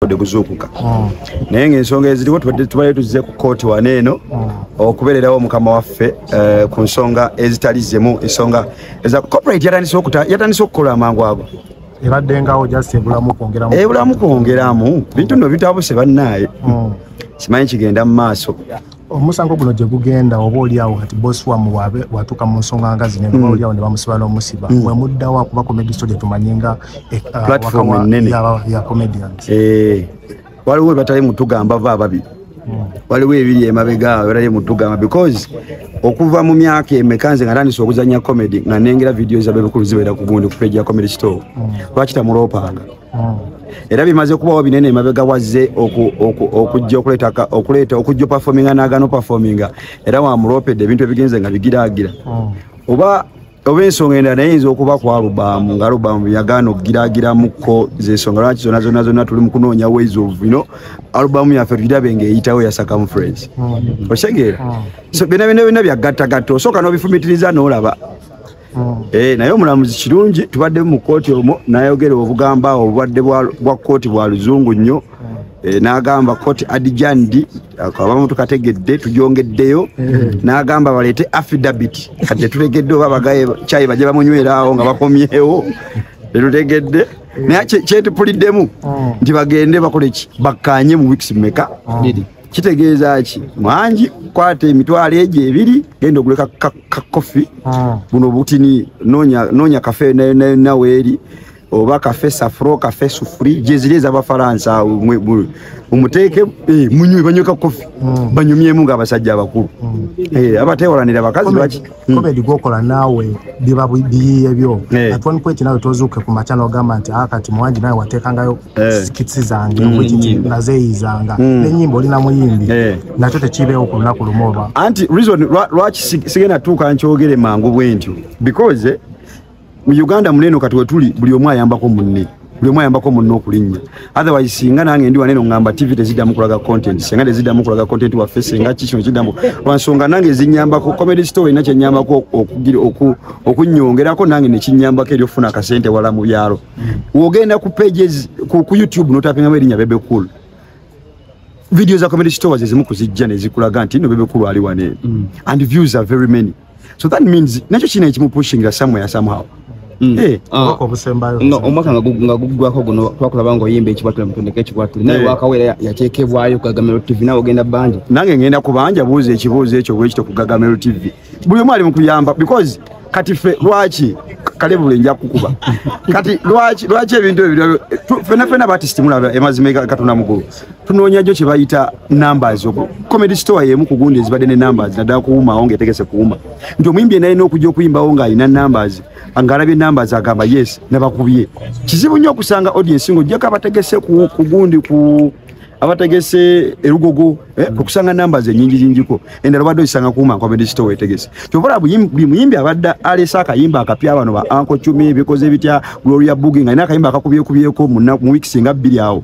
ode kuzuukuka hmm. naye ngaensonga eziriwo tubadde tuzze ku kooti wana eno hmm. okubeererawo mukama waffe eh, ku nsonga ezitali zimu ensonga eza corporate yatandise okukola amangu ago ebaddengawo just ebulamu kwongeramu ebulamu kwongeramu bintu no bitabuse bannaaye hmm. simanyi kigenda mu maaso omusango guno gye gugenda oba oliawo kati bosi wamwe watuuka mu nsonga nga zino noba mm. oliawo ne bamusiba n'omusiba mm. mwe muddawo akuba comedy story tumanye nga eh, ah, platform nene ya comedians eh, waliwo webatali mutugamba va ababiri mm. waliwo ebiri emabega abatali mutugamba because okuva mu myaka emeka nze nga tandisa okuzanya comedy nga nengera vidiyo zabebukulu zibeera ku gundi ku page ya comedy store lwaki tamulopanga era bimaze okubawo binene emabega wazze okujja okuleetaka okuleeta okujja opafominga nagana opafominga era wamuloopedde ebintu ebigenze nga bigiraagira oba oba ensonga endala naye yinza okuba ku alubaamu nga alubaamu yagaana okugiragiramukko zensonga lwaki zona zona zona tuli mukunoonya ways of ino alubaamu yaffe tugirabe nga eyitawo ya circumference okitegeera so byona byona byona byagattagatta osooka n'obifumitiriza n'olaba Mm. Eh, naye omulamuzi kirungi tubadde mu kkooti omwo nayogera obugamba awo obubadde bwa kkooti bwa luzungu nnyo mm. eh, n'agamba kkooti adijanidi abamu tukategedde tugyongeddeyo mm. n'agamba baleete affidabit kati tetutegedde oba bagaye kyayi bajja bamunyweraawo nga bakomyewo tetutegedde naye kyetupuliddemu nti bagende bakoleki bakkaanye mu wiks meka kitegeeza ki mwangi kwata emitwalo egyo ebiri genda oguleka kakofi ah. buno butini noonya kafe naweeri oba kafe safro kafe sufuri gyeziri ezabafalansa mumuteeke eh, munywe banywe kakofi hmm. banyumyemu nga abasajja abakulu hmm. eh, abatewalanira bakazi baki Hmm. komedi gwokola naawe biba biyiye byo eh. at one point nawe tozuuke ku makya nogamba nti a ah, kati muwangi nawe wateekangayo eh. kitsi zange hmm. wekiti nazeeyizanga hmm. nenyimba oli namuyimbi eh. nakyo tekiibeewo ku lunaku lumu oba anti reason lwaki sigenda tuuka nkyogere mangu bwentyo because mu uganda muneeno kati wetuli buli omu ayambako munne buli omu ayambako munne okulinnya otherwise singa nange ndi waneeno ngamba tv teziddamu kulaga content singa teziddamu kulaga content waffe singa ki kino kiddamu lwansonga nange zinyambako comedy store erina kyenyambako okunyongerako nange nekinyambako eri okufuna akasente wala mu byalo wogenda ku pages ku youtube notapingamu erinnya bebe cool video za comedy store zezimu kuzijja nezikulaga nti no bebe cool ali waneeno mm. and views are very many so that means nakyo kino ekimupushingira somewhere somehow Mm. Eh. Ah. omwaka nga guggwako guno twakulaba nga oyimba ekikwatule mutondeka ekikwatule naye eh. wakawera yateekebwayo kugagamero tv nawe ogenda banja nange ngenda kubanja buuza ekibuuzo ekyo bwekito kugagamero tv buli omu ali mukuyamba because kati fe lwaki kale buli nja kukuba kati lwaki ebintu ebyo fenafena batistimulaba emazima katonda mugulu tunoonya jo kyebayita numbers oku comedy store yemu kugundi ezibadde ne numbers naddala kuwumawo ngaetegese kuwuma nti omuyimbi enalina okujja okuyimbawo ng'alina numbers ng'alabye numbers agamba yes nabakubye kizibu nnyo okusanga audience ng'ojjako abategese kugundi ku abategese erugogo eh, mm. okusanga numbers enyingi nyingiko endala obadde ozisanga kuuma comedy store wetegese kyobola buli muyimbi abadde alese akayimba akapya bano ba anko cumi bikoze bitya gloria bugi nga alina akayimba akakubyekubyeko mu weeks nga bbiri awo